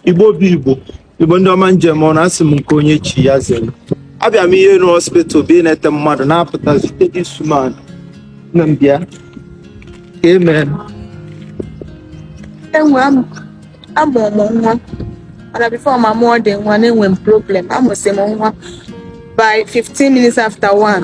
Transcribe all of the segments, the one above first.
igbo bụ igbo igbo ndị ọma njem ọ na-asị m nke onye chi ya zere abịa m Iyi Enu hospital bụ ịnete mmadụ na-apụta zute this woman na m bịa ka emee enwe amụ m nwa mana before m amụọ the nwa na-enwe m problem amụsị m nwa by 15 minutes after 1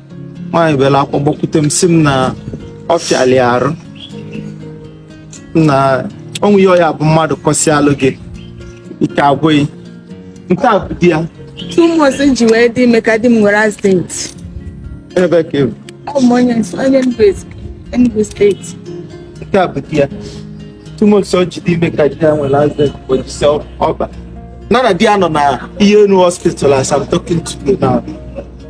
nwaanyị bịara akwa gbakwute m si m na ọ fịalụ arụ na o nwe ihe ọ ya-abụ mmadụ kọsịalụ gị ike agwụ gị nke a bụ di ya two months m ji wee dị ime ka di m nwere accident ebe ka ị bụ ọ bụ onye onye Enugu Ezi- Enugu steeti nke a bụ di ya two months o ji dị ime ka di ya nwere accident kpojisi ọba nana di ya nọ na Iyi Enu hospital as I'm talking to you now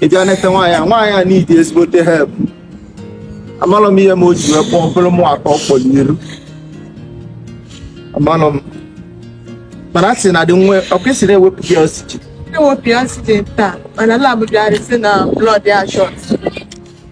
ị bịa nete nwaanyị a nwaanyị a need ezigbote help amalọ m ihe m o ji wee kpọọ bụrụ mụ atọ kpọrọ iru amalọ m mana a sị na the nwoke sị na ewepụ gị oxygen ewepụ ya site taa mana lab bịara si na blood ya short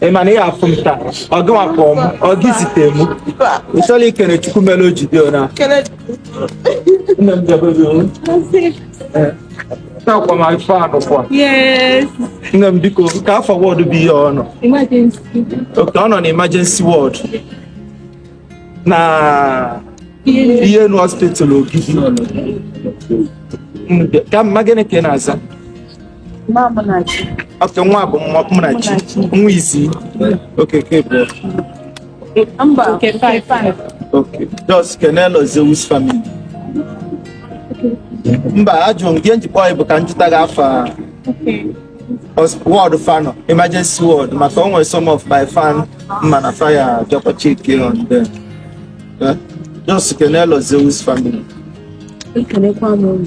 ị ma na ị ya-afụ m taa ọ gị nwa kpọ m ọ gị zite m ị chọrọ ikene chukwu mere o ji dị ona nne m debere o nakwa ma ife anụ kwa nne m biko kee afa ward bụ ihe ọ nọ okay ọ nọ na emergency ward na Iyi Enu hospital Ogidi ka m ma gịnị ka ị na-aza okay nwa bụ Munachi nwa isi okay nke bụ okay just kenelụ Zeus family mba ajụrụ m gị njikwa bụ ka m jụta gị afa ward fa nọ emergency ward maka o nwere some of my fan m ma na fa ya-achọkwa check on them eh? just kenelụ Zeus family ekelekwa m